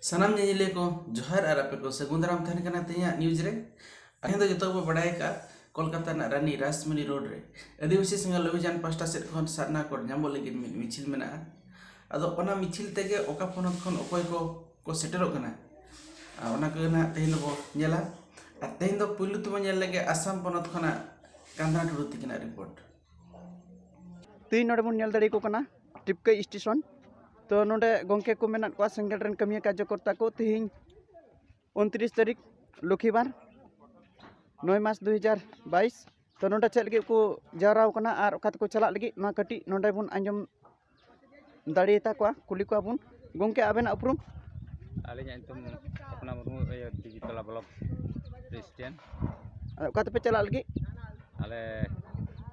ᱥᱟᱱᱟᱢ ᱧᱮᱧᱮᱞᱤᱭᱟᱹ ᱠᱚ ᱡᱚᱦᱟᱨ ᱟᱨ ᱟᱯᱮ ᱠᱚ ᱥᱟᱹᱜᱩᱱ ᱫᱟᱨᱟᱢ ᱛᱟᱦᱮᱱ ᱠᱟᱱᱟ ᱛᱮᱦᱮᱧᱟᱜ ᱱᱤᱭᱩᱡᱽ ᱨᱮ ᱛᱮᱦᱮᱧ ᱫᱚ ᱡᱚᱛᱚ ᱜᱮᱵᱚ ᱵᱟᱰᱟᱭ ᱠᱟᱜᱼᱟ ᱠᱳᱞᱠᱟᱛᱟ ᱨᱮᱱᱟᱜ ᱨᱟᱱᱤ ᱨᱟᱥᱢᱤᱱᱤ ᱨᱳᱰ ᱨᱮ ᱟᱹᱫᱤᱵᱟᱹᱥᱤ ᱥᱟᱸᱜᱷᱟᱨ ᱚᱵᱷᱤᱡᱟᱱ ᱯᱟᱥᱴᱟ ᱥᱮᱫ ᱠᱷᱚᱱ ᱥᱟᱨᱱᱟ ᱠᱳᱰ ᱧᱟᱢᱚᱜ ᱞᱟᱹᱜᱤᱫ ᱢᱤᱫ ᱢᱤᱪᱷᱤᱞ ᱢᱮᱱᱟᱜᱼᱟ ᱟᱫᱚ ᱚᱱᱟ ᱢᱤᱪᱷᱤᱞ ᱛᱮᱜᱮ ᱚᱠᱟ ᱯᱚᱱᱚᱛ ᱠᱷᱚᱱ ᱚᱠᱚᱭ ᱠᱚ ᱠᱚ ᱥᱮᱴᱮᱨᱚᱜ ᱠᱟᱱᱟ ᱟᱨ ᱚᱱᱟ ᱠᱚᱜᱮ ᱱᱟᱦᱟᱜ ᱛᱮᱦᱮᱧ ᱫᱚᱵᱚ ᱧᱮᱞᱟ ᱟᱨ ᱛᱮᱦᱮᱧ ᱫᱚ ᱯᱩᱭᱞᱩ ᱛᱮᱵᱚ ᱧᱮᱞ ᱞᱮᱜᱮ ᱟᱥᱟᱢ ᱯᱚᱱᱚᱛ ᱠᱷᱚᱱᱟᱜ ᱠᱟᱸᱫᱷᱟ ᱴᱩᱰᱩ ᱛᱤᱠᱤᱱᱟᱜ ᱨᱤᱯᱳᱨᱴ ᱛᱮᱦᱮᱧ ᱱᱚᱰᱮ ᱵᱚᱱ ᱧᱮᱞ ᱫᱟᱲᱮᱭᱟᱠᱚ ᱠᱟᱱᱟ ᱴᱤᱯᱠᱟᱹᱭ ᱥᱴᱮᱥᱚᱱ ᱛᱚ ᱱᱚᱰᱮ ᱜᱚᱢᱠᱮ ᱠᱚ ᱢᱮᱱᱟᱜ ᱠᱚᱣᱟ ᱥᱮᱸᱜᱮᱞ ᱨᱮᱱ ᱠᱟᱹᱢᱤᱭᱟᱹ ᱠᱟᱨᱡᱚᱠᱚᱨᱛᱟ ᱠᱚ ᱛᱮᱦᱮᱧ ᱩᱱᱛᱨᱤᱥ ᱛᱟᱹᱨᱤᱠᱷ ᱞᱚᱠᱷᱤᱵᱟᱨ ᱱᱚᱭ ᱢᱟᱨᱪ ᱫᱩ ᱦᱟᱡᱟᱨ ᱵᱟᱭᱤᱥ ᱛᱚ ᱱᱚᱰᱮ ᱪᱮᱫ ᱞᱟᱹᱜᱤᱫ ᱠᱚ ᱡᱟᱣᱨᱟ ᱟᱠᱟᱱᱟ ᱟᱨ ᱚᱠᱟ ᱛᱮᱠᱚ ᱪᱟᱞᱟᱜ ᱞᱟᱹᱜᱤᱫ ᱱᱚᱣᱟ ᱠᱟᱹᱴᱤᱡ ᱱᱚᱰᱮ ᱵᱚᱱ ᱟᱸᱡᱚᱢ ᱫᱟᱲᱮᱭᱟᱛᱟ ᱠᱚᱣᱟ ᱠᱩᱞᱤ ᱠᱚᱣᱟ ᱵᱚᱱ ᱜᱚᱢᱠᱮ ᱟᱵᱮᱱᱟᱜ ᱩᱯᱨᱩᱢ ᱟᱹᱞᱤᱧᱟᱜ ᱧᱩᱛᱩᱢ ᱯᱷᱚᱛᱱᱟ ᱢᱩᱨᱢᱩ ᱤᱭᱟᱹ ᱫᱤᱵᱤ ᱛᱚᱞᱟ ᱵᱞᱚᱠ ᱯᱨᱮᱥᱤᱰᱮᱱᱴ ᱟᱨ ᱚᱠᱟ ᱛᱮᱯᱮ ᱪᱟᱞᱟᱜ ᱞᱟᱹᱜᱤᱫ ᱟᱞᱮ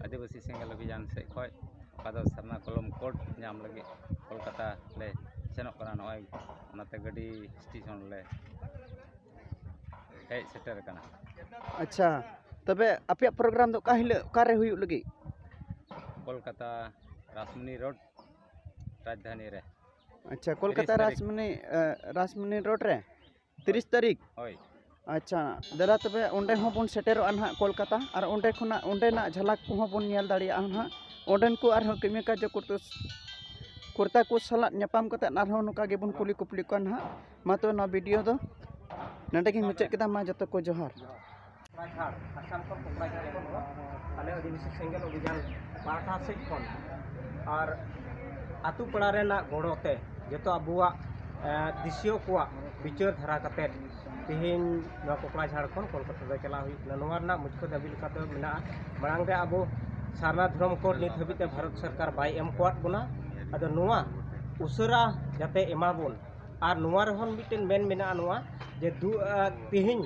ᱟᱹᱫᱤᱵᱟᱹᱥᱤ ᱥᱮᱸᱜᱮᱞ ᱚᱵᱷᱤᱡᱟᱱ ᱥᱮᱫ ᱠᱷᱚᱡ ᱚᱠᱟ ᱫᱚ ᱥᱟᱨᱱᱟ ᱠᱚᱞᱚᱢ ᱠᱳᱰ ᱧᱟᱢ ᱞᱟᱹᱜᱤᱫ ᱠᱳᱞᱠᱟᱛᱟ ᱞᱮ ᱥᱮᱱᱚᱜ ᱠᱟᱱᱟ ᱱᱚᱜᱼᱚᱸᱭ ᱚᱱᱟᱛᱮ ᱜᱟᱹᱰᱤ ᱥᱴᱮᱥᱚᱱ ᱞᱮ ᱦᱮᱡ ᱥᱮᱴᱮᱨ ᱟᱠᱟᱱᱟ ᱟᱪᱪᱷᱟ ᱛᱚᱵᱮ ᱟᱯᱮᱭᱟᱜ ᱯᱨᱳᱜᱨᱟᱢ ᱫᱚ ᱚᱠᱟ ᱦᱤᱞᱳᱜ ᱚᱠᱟᱨᱮ ᱦᱩᱭᱩᱜ ᱞᱟᱹᱜᱤᱫ ᱠᱳᱞᱠᱟᱛᱟ ᱨᱟᱥᱢᱩᱱᱤ ᱨᱳᱰ ᱨᱟᱡᱽᱫᱷᱟᱱᱤ ᱨᱮ ᱟᱪᱪᱷᱟ ᱠᱳᱞᱠᱟᱛᱟ ᱛᱟᱹᱨᱤᱠᱷ᱾ ᱨᱟᱥᱢᱩᱱᱤ ᱟᱸ, ᱨᱟᱥᱢᱩᱱᱤ ᱨᱳᱰ ᱨᱮ ᱛᱤᱨᱤᱥ ᱛᱟᱹᱨᱤᱠᱷ ᱦᱳᱭ ᱟᱪᱪᱷᱟ ᱫᱟᱫᱟ ᱛᱚᱵᱮ ᱚᱸᱰᱮ ᱦᱚᱸ ᱵᱚᱱ ᱥᱮᱴᱮᱨᱚᱜᱼᱟ ᱱᱟᱦᱟᱜ ᱠᱳᱞᱠᱟᱛᱟ ᱟᱨ ᱚᱸᱰᱮ ᱠᱷᱚᱱᱟᱜ ᱚᱸᱰᱮᱱᱟᱜ ᱡᱷᱟᱞᱟᱠ ᱠᱚᱦᱚᱸ ᱵᱚᱱ ᱧᱮᱞ ᱫᱟᱲᱮᱭᱟᱜᱼᱟ ᱱᱟᱦᱟᱜ ᱚᱸᱰᱮᱱ ᱠᱚ ᱟᱨᱦᱚᱸ ᱠᱟᱹᱢᱤ ᱠᱟᱡᱚ ᱠᱚ ᱠᱚᱨᱛᱟ ᱠᱚ ᱥᱟᱞᱟᱜ ᱧᱟᱯᱟᱢ ᱠᱟᱛᱮᱫ ᱟᱨᱦᱚᱸ ᱱᱚᱝᱠᱟ ᱜᱮᱵᱚᱱ ᱠᱩᱞᱤ ᱠᱩᱯᱞᱤ ᱠᱚᱣᱟ ᱱᱟᱦᱟᱜ ᱢᱟ ᱛᱚᱵᱮ ᱱᱚᱣᱟ ᱵᱷᱤᱰᱤᱭᱳ ᱫᱚ ᱱᱚᱰᱮ ᱜᱤᱧ ᱢᱩᱪᱟᱹᱫ ᱠᱮᱫᱟ ᱢᱟ ᱡᱚᱛᱚ ᱠᱚ ᱡᱚᱦᱟᱨ ᱠᱚᱠᱲᱟᱡᱷᱟᱲ ᱟᱥᱟᱢ ᱠᱷᱚᱱ ᱠᱚᱠᱲᱟᱡᱷᱟᱲ ᱠᱷᱚᱱ ᱫᱚ ᱟᱞᱮ ᱟᱹᱫᱤᱵᱟᱹᱥᱤ ᱥᱮᱸᱜᱮᱞ ᱚᱵᱷᱤᱡᱟᱱ ᱯᱟᱦᱴᱟ ᱥᱮᱫ ᱠᱷᱚᱱ ᱟᱨ ᱟᱛᱳ ᱯᱟᱲᱟ ᱨᱮᱱᱟᱜ ᱜᱚᱲᱚ ᱛᱮ ᱡᱚᱛᱚ ᱟᱵᱚᱣᱟᱜ ᱫᱤᱥᱤᱭᱟᱹ ᱠᱚᱣᱟᱜ ᱵᱤᱪᱟᱹᱨ ᱫᱷᱟᱨᱟ ᱠᱟᱛᱮᱫ ᱛᱮᱦᱮᱧ ᱱᱚᱣᱟ ᱠᱚᱠᱲᱟᱡᱷᱟᱲ ᱠᱷᱚᱱ ᱠᱳᱞᱠᱟᱛᱟ ᱫᱚ ᱪᱟᱞᱟᱣ ᱦᱩᱭᱩᱜ ᱠᱟᱱᱟ ᱱᱚᱣᱟ ᱨᱮᱱᱟᱜ ᱢᱩᱪᱷᱟᱹ ᱫᱟᱹᱵᱤ ᱞᱮᱠᱟᱛᱮ ᱢᱮᱱᱟᱜᱼᱟ ᱢᱟᱲᱟᱝ ᱨᱮ ᱟᱵᱚ ᱥᱟᱨᱱᱟ ᱫᱷᱚᱨᱚᱢ ᱠᱳᱰ ᱱᱤᱛ ᱦᱟᱹᱵᱤᱡ ᱛᱮ ᱵᱷᱟᱨᱚᱛ ᱥᱚᱨᱠᱟᱨ ᱵᱟᱭ ᱮᱢ ᱟᱠᱟᱫ ᱵᱚᱱᱟ ᱟᱫᱚ ᱱᱚᱣᱟ ᱩᱥᱟᱹᱨᱟ ᱡᱟᱛᱮ ᱮᱢᱟ ᱵᱚᱱ ᱟᱨ ᱱᱚᱣᱟ ᱨᱮᱦᱚᱸ ᱢᱤᱫᱴᱮᱱ ᱢᱮᱱ ᱢᱮᱱᱟᱜᱼᱟ ᱱᱚᱣᱟ ᱡᱮ ᱫᱩ ᱛᱤᱦᱤᱧ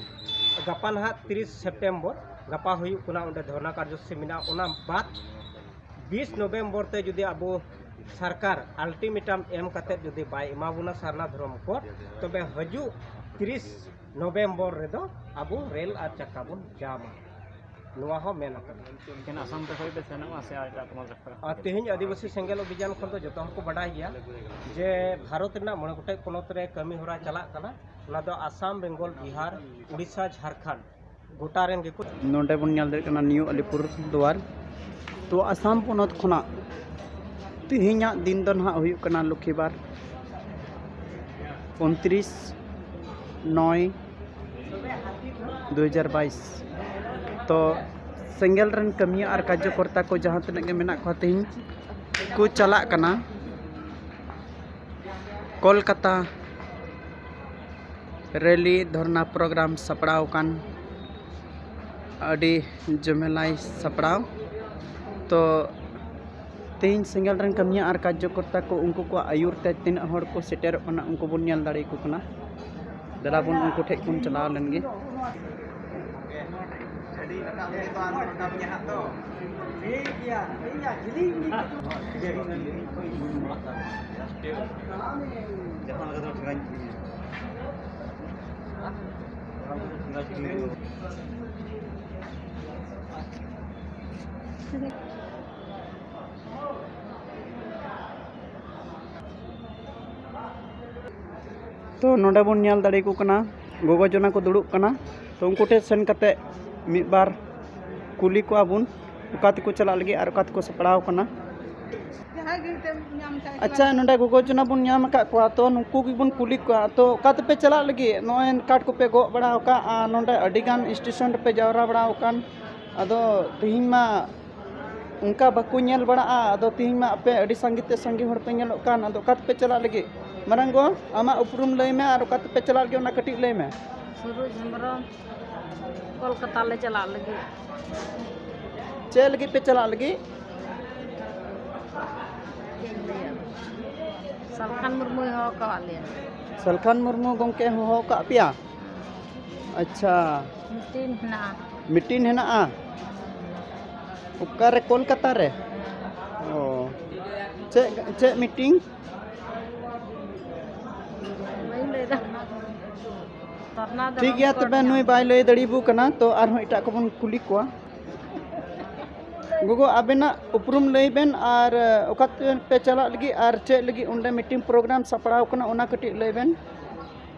ᱜᱟᱯᱟ ᱱᱟᱦᱟᱜ ᱛᱤᱨᱤᱥ ᱥᱮᱯᱴᱮᱢᱵᱚᱨ ᱜᱟᱯᱟ ᱦᱩᱭᱩᱜ ᱠᱟᱱᱟ ᱚᱸᱰᱮ ᱫᱷᱚᱨᱱᱟ ᱠᱟᱨᱡᱚᱥᱩᱪᱤ ᱢᱮᱱᱟᱜᱼᱟ ᱚᱱᱟ ᱵᱟᱫᱽ ᱵᱤᱥ ᱱᱚᱵᱷᱮᱢᱵᱚᱨ ᱛᱮ ᱡᱩᱫᱤ ᱟᱵᱚ ᱥᱚᱨᱠᱟᱨ ᱟᱞᱴᱤᱢᱮᱴᱟᱢ ᱮᱢ ᱠᱟᱛᱮ ᱡᱩᱫᱤ ᱵᱟᱭ ᱮᱢᱟ ᱵᱚᱱᱟ ᱥᱟᱨᱱᱟ ᱫᱷᱚᱨᱚᱢ ᱠᱳᱰ ᱛᱚᱵᱮ ᱦᱤᱡᱩᱜ ᱛᱤᱨᱤᱥ ᱱᱚᱵᱷᱮᱢᱵᱚᱨ ᱨᱮᱫᱚ ᱟᱵᱚ ᱨᱮᱹᱞ ᱟᱨ ᱪᱟᱠᱟ ᱵᱚᱱ ᱡᱟᱢᱟ ᱱᱚᱣᱟ ᱦᱚᱸ ᱢᱮᱱ ᱟᱠᱟᱱᱟ ᱮᱠᱮᱱ ᱟᱥᱟᱢ ᱛᱮ ᱠᱷᱚᱡ ᱯᱮ ᱥᱮᱱᱚᱜᱼᱟ ᱥᱮ ᱮᱴᱟᱜ ᱯᱚᱱᱚᱛ ᱨᱮ ᱠᱷᱚᱡ ᱟᱨ ᱛᱮᱦᱮᱧ ᱟᱹᱫᱤᱵᱟᱹᱥᱤ ᱥᱮᱸᱜᱮᱞ ᱚᱵᱷᱤᱡᱟᱱ ᱠᱷᱚᱱ ᱫᱚ ᱡᱚᱛᱚ ᱦᱚᱲ ᱠᱚ ᱵᱟᱰᱟᱭ ᱜᱮᱭᱟ ᱡᱮ ᱵᱷᱟᱨᱚᱛ ᱨᱮᱱᱟᱜ ᱢᱚᱬᱮ ᱜᱚᱴᱮᱡ ᱯᱚᱱᱚᱛ ᱨᱮ ᱠᱟᱹᱢᱤ ᱦᱚᱨᱟ ᱪᱟᱞᱟᱜ ᱠᱟᱱᱟ ᱚᱱᱟ ᱫᱚ ᱟᱥᱟᱢ ᱵᱮᱝᱜᱚᱞ ᱵᱤᱦᱟᱨ ᱩᱲᱤᱥᱥᱟ ᱡᱷᱟᱲᱠᱷᱚᱸᱰ ᱜᱚᱴᱟ ᱨᱮᱱ ᱜᱮᱠᱚ ᱱᱚᱰᱮ ᱵᱚᱱ ᱧᱮᱞ ᱫᱟᱲᱮᱭᱟᱜ ᱠᱟᱱᱟ ᱱᱤᱭᱩ ᱟᱞᱤᱯᱩᱨ ᱫᱩᱣᱟᱨ ᱛᱚ ᱟᱥᱟᱢ ᱯᱚᱱᱚᱛ ᱠᱷᱚᱱᱟᱜ ᱛᱮᱦᱮᱧᱟᱜ ᱫᱤᱱ ᱫᱚ ᱱᱟᱦᱟᱜ ᱦᱩᱭᱩᱜ ᱠᱟᱱᱟ ᱞᱚᱠᱠᱷᱤᱵᱟᱨ ᱩᱱᱛᱨᱤᱥ ᱱᱚᱭ ᱫᱩ ᱦᱟᱡᱟᱨ ᱵᱟᱭᱤᱥ ᱛᱚ ᱥᱮᱸᱜᱮᱞ ᱨᱮᱱ ᱠᱟᱹᱢᱤᱭᱟᱹ ᱟᱨ ᱠᱟᱨᱡᱚᱠᱚᱨᱛᱟ ᱠᱚ ᱡᱟᱦᱟᱸ ᱛᱤᱱᱟᱹᱜ ᱜᱮ ᱢᱮᱱᱟᱜ ᱠᱚᱣᱟ ᱛᱮᱦᱮᱧ ᱠᱚ ᱪᱟᱞᱟᱜ ᱠᱟᱱᱟ ᱠᱳᱞᱠᱟᱛᱟ ᱨᱮᱞᱤ ᱫᱷᱚᱨᱱᱟ ᱯᱨᱳᱜᱨᱟᱢ ᱥᱟᱯᱲᱟᱣ ᱟᱠᱟᱱ ᱟᱹᱰᱤ ᱡᱚᱢᱮᱞᱟᱭ ᱥᱟᱯᱲᱟᱣ ᱛᱚ ᱛᱮᱦᱮᱧ ᱥᱮᱸᱜᱮᱞ ᱨᱮᱱ ᱠᱟᱹᱢᱤᱭᱟᱹ ᱟᱨ ᱠᱟᱨᱡᱚᱠᱚᱨᱛᱟ ᱠᱚ ᱩᱱᱠᱩ ᱠᱚᱣᱟᱜ ᱟᱹᱭᱩᱨ ᱛᱮ ᱛᱤᱱᱟᱹᱜ ᱦᱚᱲ ᱠᱚ ᱥᱮᱴᱮᱨᱚᱜ ᱠᱟᱱᱟ ᱩᱱᱠᱩ ᱵᱚᱱ ᱧᱮᱞ ᱫᱟᱲᱮᱭᱟᱠᱚ ᱠᱟᱱᱟ ᱫᱮᱞᱟ ᱵᱚᱱ ᱩᱱᱠᱩ ᱴᱷᱮᱡ ᱵᱚᱱ ᱪᱟᱞᱟᱣ ᱞᱮᱱ ᱜᱮ ᱛᱚ ᱱᱚᱸᱰᱮ ᱵᱚᱱ ᱧᱮᱞ ᱫᱟᱲᱮᱭᱟᱠᱚ ᱠᱟᱱᱟ ᱜᱚᱜᱚ ᱡᱚᱱᱟ ᱠᱚ ᱫᱩᱲᱩᱵ ᱠᱟᱱᱟ ᱛᱚ ᱩᱱᱠᱩ ᱴᱷᱮᱱ ᱥᱮᱱ ᱠᱟᱛᱮ ᱢᱤᱫ ᱵᱟᱨ ᱠᱩᱞᱤ ᱠᱚᱣᱟ ᱵᱚᱱ ᱚᱠᱟ ᱛᱮᱠᱚ ᱪᱟᱞᱟᱜ ᱞᱟᱹᱜᱤᱫ ᱟᱨ ᱚᱠᱟ ᱛᱮᱠᱚ ᱥᱟᱯᱲᱟᱣ ᱠᱟᱱᱟ ᱟᱪᱪᱷᱟ ᱱᱚᱸᱰᱮ ᱜᱚᱜᱚ ᱡᱚᱱᱟ ᱵᱚᱱ ᱧᱟᱢ ᱟᱠᱟᱫ ᱠᱚᱣᱟ ᱛᱚ ᱱᱩᱠᱩ ᱜᱮᱵᱚᱱ ᱠᱩᱞᱤ ᱠᱚᱣᱟ ᱛᱚ ᱚᱠᱟ ᱛᱮᱯᱮ ᱪᱟᱞᱟᱜ ᱞᱟᱹᱜᱤᱫ ᱱᱚᱜᱼᱚᱭ ᱠᱟᱴ ᱠᱚᱯᱮ ᱜᱚᱜ ᱵᱟᱲᱟᱣ ᱠᱟᱜᱼᱟ ᱱᱚᱸᱰᱮ ᱟᱹᱰᱤ ᱜᱟᱱ ᱥᱴᱮᱥᱚᱱ ᱨᱮᱯᱮ ᱡᱟᱣᱨᱟ ᱵᱟᱲᱟᱣ ᱠᱟᱱ ᱟᱫᱚ ᱛᱤᱦᱤᱧ ᱢᱟ ᱚᱱᱠᱟ ᱵᱟᱠᱚ ᱧᱮᱞ ᱵᱟᱲᱟᱜᱼᱟ ᱟᱫᱚ ᱛᱮᱦᱮᱧ ᱢᱟ ᱟᱯᱮ ᱟᱹᱰᱤ ᱥᱟᱸᱜᱮ ᱛᱮ ᱥᱟᱸᱜᱮ ᱦᱚᱲ ᱯᱮ ᱧᱮᱞᱚᱜ ᱠᱟᱱ ᱟᱫᱚ ᱚᱠᱟ ᱛᱮᱯᱮ ᱪᱟᱞᱟᱜ ᱞᱟᱹᱜᱤᱫ ᱢᱟᱨᱟᱝ ᱜᱚ ᱟᱢᱟᱜ ᱩᱯᱨᱩᱢ ᱞᱟᱹᱭ ᱢᱮ ᱟᱨ ᱚᱠᱟ ᱛᱮᱯᱮ ᱪᱟᱞᱟᱜ ᱞᱟᱹᱜᱤᱫ ᱚᱱᱟ ᱠᱟᱹᱴᱤᱡ ᱞᱟᱹᱭ ᱢᱮ ᱥᱩᱨᱩᱡᱽ ᱦᱮᱢᱵᱨᱚᱢ ᱠᱳᱞᱠᱟᱛᱟ ᱞᱮ ᱪᱟᱞᱟᱜ ᱞᱟᱹᱜᱤᱫ ᱪᱮᱫ ᱞᱟᱹᱜᱤᱫ ᱯᱮ ᱪᱟᱞᱟᱜ ᱞᱟᱹᱜᱤᱫ ᱪᱮᱫ ᱤᱧ ᱞᱟᱹᱭᱟ ᱥᱟᱞᱠᱷᱟᱱ ᱢᱩᱨᱢᱩᱭ ᱦᱚᱦᱚ ᱠᱟᱜ ᱞᱮᱭᱟ ᱥᱟᱞᱠᱷᱟᱱ ᱢᱩᱨᱢᱩ ᱜᱚᱢᱠᱮ ᱦᱚᱦᱚ ᱠᱟᱜ ᱯᱮᱭᱟ ᱟᱪᱪᱷᱟ ᱢᱤᱴᱤᱱ ᱦᱮᱱᱟᱜᱼᱟ ᱢᱤᱴᱤᱱ ᱦᱮᱱᱟᱜᱼᱟ ᱚᱠᱟᱨᱮ ᱠᱳᱞᱠᱟᱛᱟ ᱨᱮ ᱚ ᱪᱮᱫ ᱪᱮᱫ ᱢᱤᱴᱤᱝ ᱵᱟᱹᱧ ᱞᱟᱹᱭᱫᱟ ᱛᱟᱨᱱᱟ ᱫᱚ ᱴᱷᱤᱠ ᱜᱮᱭᱟ ᱛᱚᱵᱮ ᱱᱩᱭ ᱵᱟᱭ ᱞᱟᱹᱭ ᱫᱟᱲᱮᱭᱟᱵᱚ ᱠᱟᱱᱟ ᱛᱚ ᱟᱨᱦᱚᱸ ᱮᱴᱟᱜ ᱠᱚᱵᱚᱱ ᱠᱩᱞᱤ ᱠᱚᱣᱟ ᱜᱚᱜᱚ ᱟᱵᱮᱱᱟᱜ ᱩᱯᱨᱩᱢ ᱞᱟᱹᱭ ᱵᱮᱱ ᱟᱨ ᱚᱠᱟ ᱛᱮᱯᱮ ᱪᱟᱞᱟᱜ ᱞᱟᱹᱜᱤᱫ ᱟᱨ ᱪᱮᱫ ᱞᱟᱹᱜᱤᱫ ᱚᱸᱰᱮ ᱢᱤᱴᱤᱝ ᱯᱨᱳᱜᱨᱟᱢ ᱥᱟᱯᱲᱟᱣ ᱠᱟᱱᱟ ᱚᱱᱟ ᱠᱟᱹᱴᱤᱡ ᱞᱟᱹᱭ ᱵᱮᱱ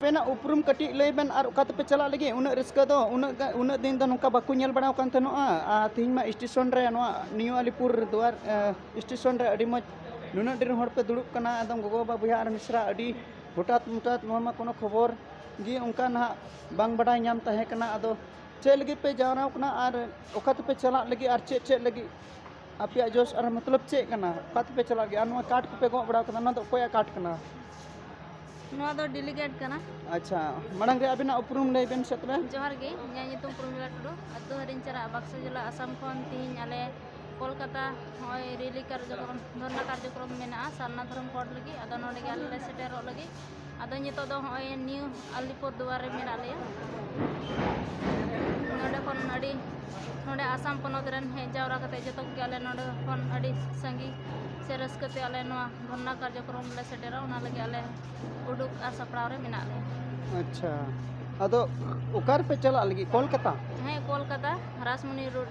ᱟᱯᱮᱱᱟᱜ ᱩᱯᱨᱩᱢ ᱠᱟᱹᱴᱤᱡ ᱞᱟᱹᱭ ᱵᱮᱱ ᱟᱨ ᱚᱠᱟ ᱛᱮᱯᱮ ᱪᱟᱞᱟᱜ ᱞᱟᱹᱜᱤᱫ ᱩᱱᱟᱹᱜ ᱨᱟᱹᱥᱠᱟᱹ ᱫᱚ ᱩᱱᱟᱹᱜ ᱩᱱᱟᱹᱜ ᱫᱤᱱ ᱫᱚ ᱱᱚᱝᱠᱟ ᱵᱟᱠᱚ ᱧᱮᱞ ᱵᱟᱲᱟᱣ ᱠᱟᱱ ᱛᱟᱦᱮᱱᱚᱜᱼᱟ ᱟᱨ ᱛᱮᱦᱮᱧ ᱢᱟ ᱥᱴᱮᱥᱚᱱ ᱨᱮ ᱱᱚᱣᱟ ᱱᱤᱭᱩ ᱟᱞᱤᱯᱩᱨ ᱫᱩᱣᱟᱨ ᱥᱴᱮᱥᱚᱱ ᱨᱮ ᱟᱹᱰᱤ ᱢᱚᱡᱽ ᱱᱩᱱᱟᱹᱜ ᱰᱷᱮᱨ ᱦᱚᱲ ᱯᱮ ᱫᱩᱲᱩᱵ ᱠᱟᱱᱟ ᱮᱠᱫᱚᱢ ᱜᱚᱜᱚ ᱵᱟᱵᱟ ᱵᱚᱭᱦᱟ ᱟᱨ ᱢᱤᱥᱨᱟ ᱟᱹᱰᱤ ᱦᱚᱴᱟᱛ ᱢᱚᱴᱟᱛ ᱱᱚᱣᱟ ᱢᱟ ᱠᱳᱱᱳ ᱠᱷᱚᱵᱚᱨ ᱜᱮ ᱚᱱᱠᱟ ᱱᱟᱦᱟᱜ ᱵᱟᱝ ᱵᱟᱰᱟᱭ ᱧᱟᱢ ᱛᱟᱦᱮᱸ ᱠᱟᱱᱟ ᱟᱫᱚ ᱪᱮᱫ ᱞᱟᱹᱜᱤᱫ ᱯᱮ ᱡᱟᱣᱨᱟᱣ ᱠᱟᱱᱟ ᱟᱨ ᱚᱠᱟ ᱛᱮᱯᱮ ᱪᱟᱞᱟᱜ ᱞᱟᱹᱜᱤᱫ ᱟᱨ ᱪᱮᱫ ᱪᱮᱫ ᱞᱟᱹᱜᱤᱫ ᱟᱯᱮᱭᱟᱜ ᱡᱚᱥ ᱟᱨ ᱢᱚᱛᱞᱚᱵ ᱪᱮᱫ ᱠᱟᱱᱟ ᱚᱠᱟ ᱛᱮᱯᱮ ᱪᱟᱞᱟᱜ ᱜᱮᱭᱟ ᱟᱨ ᱱᱚᱣᱟ ᱠᱟᱴ ᱠᱚᱯᱮ ᱜᱚᱜ ᱵᱟᱲᱟ ᱠᱟᱫᱟ ᱱᱚᱣᱟ ᱫᱚ ᱚᱠᱚᱭᱟᱜ ᱠᱟᱴ ᱠᱟᱱᱟ ᱱᱚᱣᱟ ᱫᱚ ᱰᱮᱞᱤᱜᱮᱴ ᱠᱟᱱᱟ ᱟᱪᱪᱷᱟ ᱢᱟᱲᱟᱝ ᱨᱮ ᱟᱵᱤᱱᱟᱜ ᱩᱯᱨᱩᱢ ᱞᱟᱹᱭ ᱵᱮᱱ ᱥᱮ ᱛᱚᱵᱮ ᱡᱚᱦᱟᱨ ᱜᱮ ᱤᱧᱟᱹᱜ ᱧᱩᱛᱩᱢ ᱯᱨᱚᱢᱤᱞᱟ ᱴᱩᱰᱩ ᱟᱹᱛᱩ ᱦᱟᱹᱨᱤᱧ ᱪᱟᱞᱟᱜᱼᱟ ᱵᱟᱠᱥᱟ ᱡᱮᱞᱟ ᱟᱥᱟᱢ ᱠᱷᱚᱱ ᱛᱮᱦᱮᱧ ᱟᱞᱮ ᱠᱳᱞᱠᱟᱛᱟ ᱱᱚᱜᱼᱚᱭ ᱨᱮᱞᱤ ᱠᱟᱨᱡᱚᱠᱨᱚᱢ ᱫᱷᱚᱨᱱᱟ ᱠᱟᱨᱡᱚᱠᱨᱚᱢ ᱢᱮᱱᱟᱜᱼᱟ ᱥᱟᱨᱱᱟ ᱫᱷᱚᱨᱚᱢ ᱠᱳᱰ ᱞᱟᱹᱜᱤᱫ ᱟᱫᱚ ᱱᱚᱰᱮ ᱜᱮ ᱟᱞᱮ ᱞᱮ ᱥᱮᱴᱮᱨᱚᱜ ᱞᱟᱹᱜᱤᱫ ᱟᱫᱚ ᱱᱤᱛᱚᱜ ᱫᱚ ᱦᱚᱸᱜᱼᱚᱭ ᱱᱤᱭᱩ ᱟᱞᱤᱯᱩᱨ ᱫᱩᱣᱟᱨ ᱨᱮ ᱢᱮᱱᱟᱜ ᱞᱮᱭᱟ ᱱᱚᱰᱮ ᱠᱷᱚᱱ ᱟᱹᱰᱤ ᱱᱚᱰᱮ ᱟᱥᱟᱢ ᱯᱚᱱᱚᱛ ᱨᱮᱱ ᱦᱮᱡ ᱡᱟᱣᱨᱟ ᱠᱟᱛᱮ ᱡᱚᱛᱚ ᱠᱚᱜᱮ ᱟᱞᱮ ᱱᱚᱰᱮ ᱠᱷᱚᱱ ᱟᱹᱰᱤ ᱥᱟᱸᱜᱮ ᱥᱮ ᱨᱟᱹᱥᱠᱟᱹ ᱛᱮ ᱟᱞᱮ ᱱᱚᱣᱟ ᱫᱷᱚᱨᱱᱟ ᱠᱟᱨᱡᱚᱠᱨᱚᱢ ᱞᱮ ᱥᱮᱴᱮᱨᱟ ᱚᱱᱟ ᱞᱟᱹᱜᱤᱫ ᱟᱞᱮ ᱩᱰᱩᱠ ᱟᱨ ᱥᱟᱯᱲᱟᱣ ᱨᱮ ᱢᱮᱱᱟᱜ ᱞᱮᱭᱟ ᱟᱪᱪᱷᱟ ᱟᱫᱚ ᱚᱠᱟ ᱨᱮᱯᱮ ᱪᱟᱞᱟᱜ ᱞᱟᱹᱜᱤᱫ ᱠᱳᱞᱠᱟᱛᱟ ᱦᱮᱸ ᱠᱳᱞᱠᱟᱛᱟ ᱨᱟᱥᱢᱩᱱᱤ ᱨᱳᱰ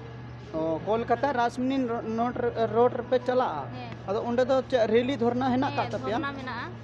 ᱚ ᱠᱳᱞᱠᱟᱛᱟ ᱨᱟᱥᱢᱤᱱ ᱨᱳᱰ ᱨᱮᱯᱮ ᱪᱟᱞᱟᱜᱼᱟ ᱦᱮᱸ ᱟᱫᱚ ᱚᱸᱰᱮ ᱫᱚ ᱪᱮᱫ ᱨᱮᱞᱤ ᱫᱷᱚᱨᱱᱟ ᱦᱮᱱᱟᱜ ᱟᱠᱟᱫ ᱦᱮᱸ ᱛᱟᱯᱮᱭᱟ ᱫᱷᱚᱨᱱᱟ ᱢᱮᱱᱟᱜᱼᱟ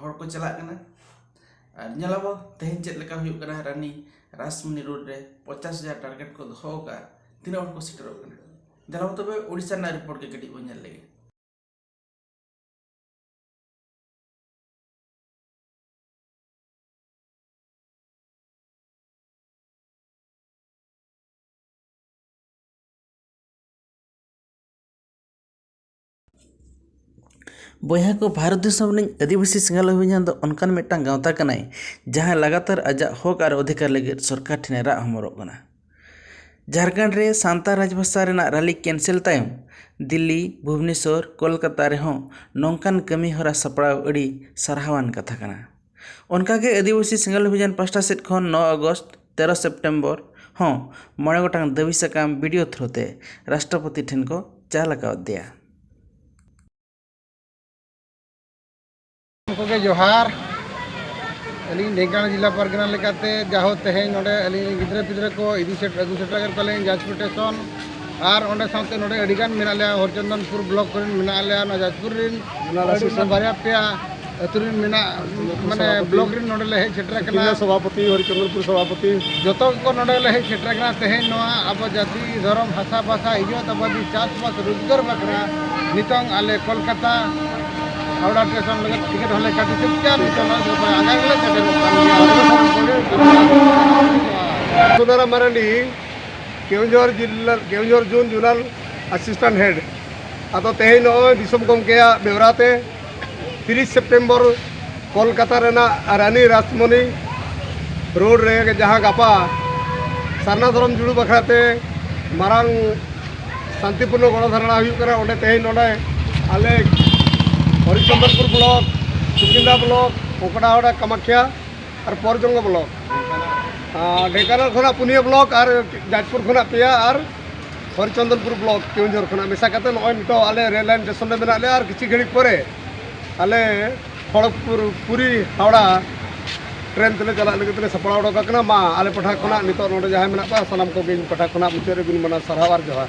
ᱦᱚᱲ ᱠᱚ ᱪᱟᱞᱟᱜ ᱠᱟᱱᱟ ᱟᱨ ᱧᱮᱞ ᱟᱵᱚᱱ ᱛᱮᱦᱮᱧ ᱪᱮᱫ ᱞᱮᱠᱟ ᱦᱩᱭᱩᱜ ᱠᱟᱱᱟ ᱨᱟᱱᱤ ᱨᱟᱥᱢᱩᱱᱤ ᱨᱳᱰ ᱨᱮ ᱯᱚᱧᱪᱟᱥ ᱦᱟᱡᱟᱨ ᱴᱟᱨᱜᱮᱴ ᱠᱚ ᱫᱚᱦᱚ ᱟᱠᱟᱫᱼᱟ ᱛᱤᱱᱟᱹᱜ ᱦᱚᱲ ᱠᱚ ᱥᱮᱴᱮᱨᱚᱜ ᱠᱟᱱᱟ ᱫᱮᱞᱟ ᱵᱚᱱ ᱛᱚᱵᱮ ᱳᱰᱤᱥᱟ ᱨᱮᱱᱟᱜ ᱨᱤᱯᱳᱨᱴ ᱜᱮ ᱠᱟᱹᱴᱤᱡ ᱵᱚᱱ ᱧᱮᱞ ᱞᱮᱜᱮ ᱵᱚᱭᱦᱟ ᱠᱚ ᱵᱷᱟᱨᱚᱛ ᱫᱤᱥᱚᱢ ᱨᱤᱱᱤᱡ ᱟᱹᱫᱤᱵᱟᱹᱥᱤ ᱥᱤᱸᱜᱟᱞᱟᱹᱭ ᱦᱩᱭᱱᱟ ᱫᱚ ᱚᱱᱠᱟᱱ ᱢᱤᱫᱴᱟᱝ ᱜᱟᱶᱛᱟ ᱠᱟᱱᱟᱭ ᱡᱟᱦᱟᱸᱭ ᱞᱟᱜᱟᱛᱟᱨ ᱟᱡᱟᱜ ᱦᱚᱠ ᱟᱨ ᱚᱫᱷᱤᱠᱟᱨ ᱞᱟᱹᱜᱤᱫ ᱥᱚᱨᱠᱟᱨ ᱴᱷᱮᱱᱮ ᱨᱟᱜ ᱦᱚᱢᱚᱨᱚᱜ ᱠᱟᱱᱟ ᱡᱷᱟᱲᱠᱷᱚᱸᱰ ᱨᱮ ᱥᱟᱱᱛᱟᱲ ᱨᱟᱡᱽ ᱵᱷᱟᱥᱟ ᱨᱮᱱᱟᱜ ᱨᱟᱹᱞᱤ ᱠᱮᱱᱥᱮᱞ ᱛᱟᱭᱚᱢ ᱫᱤᱞᱞᱤ ᱵᱷᱩᱵᱽᱱᱮᱥᱚᱨ ᱠᱳᱞᱠᱟᱛᱟ ᱨᱮᱦᱚᱸ ᱱᱚᱝᱠᱟᱱ ᱠᱟᱹᱢᱤ ᱦᱚᱨᱟ ᱥᱟᱯᱲᱟᱣ ᱟᱹᱰᱤ ᱥᱟᱨᱦᱟᱣᱟᱱ ᱠᱟᱛᱷᱟ ᱠᱟᱱᱟ ᱚᱱᱠᱟ ᱜᱮ ᱟᱹᱫᱤᱵᱟᱹᱥᱤ ᱥᱮᱸᱜᱮᱞ ᱚᱵᱷᱤᱡᱟᱱ ᱯᱟᱥᱴᱟ ᱥᱮᱫ ᱠᱷᱚᱱ ᱱᱚ ᱟᱜᱚᱥᱴ ᱛᱮᱨᱚ ᱥᱮᱯᱴᱮᱢᱵᱚᱨ ᱦᱚᱸ ᱢᱚᱬᱮ ᱜᱚᱴᱟᱝ ᱫᱟᱹᱵᱤ ᱥᱟᱠᱟᱢ ᱵᱤᱰᱤᱭᱳ ᱛᱷᱨᱩ ᱛᱮ ᱨᱟᱥᱴᱨᱚᱯᱚᱛᱤ ᱴᱷᱮᱱ ᱠᱚ ᱪᱟᱞ ᱟᱠᱟᱣᱫᱮᱭᱟ ᱡᱚᱛᱚ ᱠᱚᱜᱮ ᱡᱚᱦᱟᱨ ᱟᱹᱞᱤᱧ ᱰᱷᱮᱝᱠᱟᱱᱟ ᱡᱮᱞᱟ ᱯᱟᱨᱜᱟᱱᱟ ᱞᱮᱠᱟᱛᱮ ᱡᱟᱦᱳ ᱛᱮᱦᱮᱧ ᱱᱚᱰᱮ ᱟᱹᱞᱤᱧ ᱜᱤᱫᱽᱨᱟᱹ ᱯᱤᱫᱽᱨᱟᱹ ᱠᱚ ᱤᱫᱤ ᱥᱮᱴᱮᱨ ᱟᱹᱜᱩ ᱥᱮᱴᱮᱨ ᱠᱮᱫ ᱠᱚᱣᱟᱞᱤᱧ ᱡᱟᱡᱽᱯᱩᱨ ᱴᱮᱥᱚᱱ ᱟᱨ ᱚᱸᱰᱮ ᱥᱟᱶᱛᱮ ᱱᱚᱰᱮ ᱟᱹᱰᱤ ᱜᱟᱱ ᱢᱮᱱᱟᱜ ᱞᱮᱭᱟ ᱦᱚᱨᱪᱚᱱᱫᱚᱱᱯᱩᱨ ᱵᱞᱚᱠ ᱠᱚᱨᱮᱱ ᱢᱮᱱᱟᱜ ᱞᱮᱭᱟ ᱱᱚᱣᱟ ᱡᱟᱡᱽᱯᱩᱨ ᱨᱮᱱ ᱟᱹᱰᱤ ᱵᱟᱨᱭᱟ ᱯᱮᱭᱟ ᱟᱹᱛᱩ ᱨᱮᱱ ᱢᱮᱱᱟᱜ ᱢᱟᱱᱮ ᱵᱞᱚᱠ ᱨᱮᱱ ᱱᱚᱰᱮ ᱞᱮ ᱦᱮᱡ ᱥᱮᱴᱮᱨ ᱟᱠᱟᱱᱟ ᱥᱚᱵᱷᱟᱯᱚᱛᱤ ᱦᱚᱨᱪᱚᱱᱫᱚᱱᱯᱩᱨ ᱥᱚᱵᱷᱟᱯᱚᱛᱤ ᱡᱚᱛᱚ ᱠᱚ ᱱᱚᱰᱮ ᱞᱮ ᱦᱮᱡ ᱥᱮᱴᱮᱨ ᱟᱠᱟᱱᱟ ᱛᱮᱦᱮᱧ ᱱᱚᱣᱟ ᱟᱵᱚ ᱡᱟᱹᱛᱤ ᱫᱷᱚᱨᱚᱢ ᱦᱟᱥᱟ ᱵᱷᱟᱥᱟ ᱤᱡᱚᱛ ᱟᱵᱟᱫᱤ ᱪᱟᱥᱵᱟᱥ ᱨᱳᱡᱽᱜᱟᱨ ᱵᱟᱠᱷᱨᱟ ᱱᱤᱛᱚᱝ ᱟᱞᱮ ᱠᱳᱞᱠᱟᱛᱟ ᱦᱟᱣᱲᱟ ᱥᱴᱮᱥᱚᱱ ᱞᱟᱹᱜᱤᱫ ᱴᱤᱠᱤᱴ ᱦᱚᱸᱞᱮ ᱠᱟᱴᱤ ᱥᱟᱹᱛ ᱠᱮᱫᱟ ᱱᱤᱛᱚᱝ ᱟᱜᱟᱨ ᱜᱮᱞᱮ ᱥᱮᱴᱮᱨᱚᱜ ᱠᱟᱱ ᱜᱮᱭᱟ ᱥᱩᱫᱷᱟᱨᱟᱢ ᱢᱟᱨᱟᱱᱰᱤ ᱠᱮᱣᱡᱚᱨ ᱡᱤᱞᱟ ᱠᱮᱣᱡᱚᱨ ᱡᱩᱱ ᱡᱩᱞᱟᱞ ᱟᱥᱤᱥᱴᱮᱱᱴ ᱦᱮᱰ ᱟᱫᱚ ᱛᱮᱦᱮᱧ ᱱᱚᱜᱼᱚᱭ ᱫᱤᱥᱚᱢ ᱜᱚᱢᱠᱮᱭᱟᱜ ᱵᱮᱣᱨᱟ ᱛᱮ ᱛᱤᱨᱤᱥ ᱥᱮᱯᱴᱮᱢᱵᱚᱨ ᱠᱚᱞᱠᱟᱛᱟ ᱨᱮᱱᱟᱜ ᱨᱟᱱᱤ ᱨᱟᱥᱢᱚᱱᱤ ᱨᱳᱰ ᱨᱮ ᱡᱟᱦᱟᱸ ᱜᱟᱯᱟ ᱥᱟᱨᱱᱟ ᱫᱷᱚᱨᱚᱢ ᱡᱩᱲᱩ ᱵᱟᱠᱷᱨᱟ ᱛᱮ ᱢᱟᱨᱟᱝ ᱥᱟᱱᱛᱤᱯᱩᱨᱱᱚ ᱜᱚᱲᱚ ᱫᱷᱟᱨᱟᱱᱟ ᱦᱩᱭᱩᱜ ᱠᱟᱱᱟ ᱚᱸᱰᱮ ᱛᱮᱦᱮᱧ ᱱᱚᱰᱮ ᱟᱞᱮ ᱦᱚᱨᱤᱪᱚᱱᱫᱨᱚᱯᱩᱨ ᱵᱞᱚᱠ ᱥᱩᱠᱤᱱᱫᱟ ᱵᱞᱚᱠ ᱠᱚᱠᱲᱟᱦᱚᱲᱟ ᱠᱟᱢᱟᱠᱷᱭᱟ ᱟᱨ ᱯᱚᱨᱡᱚᱝᱜᱚ ᱵᱞᱚᱠ ᱰᱷᱮᱸᱠᱟᱱᱟᱞ ᱠᱷᱚᱱᱟᱜ ᱯᱩᱱᱭᱟᱹ ᱵᱞᱚᱠ ᱟᱨ ᱡᱟᱡᱽᱯᱩᱨ ᱠᱷᱚᱱᱟᱜ ᱯᱮᱭᱟ ᱟᱨ ᱦᱚᱨᱤᱪᱚᱱᱫᱚᱱᱯᱩᱨ ᱵᱞᱚᱠ ᱠᱮᱣᱡᱷᱚᱨ ᱠᱷᱚᱱᱟᱜ ᱢᱮᱥᱟ ᱠᱟᱛᱮ ᱱᱚᱜᱼᱚᱭ ᱱᱤᱛᱚᱜ ᱟᱞᱮ ᱨᱮᱞ ᱞᱟᱭᱤᱱ ᱥᱴᱮᱥᱚᱱ ᱨᱮ ᱢᱮᱱᱟᱜ ᱞᱮᱭᱟ ᱟᱨ ᱠᱤᱪᱷᱩ ᱜᱷᱟᱹᱲᱤᱡ ᱯᱚᱨᱮ ᱟᱞᱮ ᱠᱷᱚᱲᱚᱜᱽᱯᱩᱨ ᱯᱩᱨᱤ ᱦᱟᱣᱲᱟ ᱴᱨᱮᱱ ᱛᱮᱞᱮ ᱪᱟᱞᱟᱜ ᱞᱟᱹᱜᱤᱫ ᱛᱮᱞᱮ ᱥᱟᱯᱲᱟᱣ ᱚᱰᱚᱠ ᱟᱠᱟᱱᱟ ᱢᱟ ᱟᱞᱮ ᱯᱟᱦᱴᱟ ᱠᱷᱚᱱᱟᱜ ᱱᱤᱛᱚᱜ ᱱᱚᱰᱮ ᱡᱟᱦᱟᱸᱭ ᱢᱮᱱᱟᱜ ᱠᱚᱣᱟ ᱥᱟᱱᱟᱢ ᱠᱚᱜᱮ ᱤᱧ ᱯᱟᱦᱴᱟ ᱠᱷᱚᱱᱟᱜ ᱢᱩᱪᱟᱹᱫ ᱨᱮ ᱜᱩᱱ ᱢᱟᱱᱟᱣ ᱥᱟᱨᱦᱟᱣ ᱟᱨ ᱡᱚᱦᱟᱨ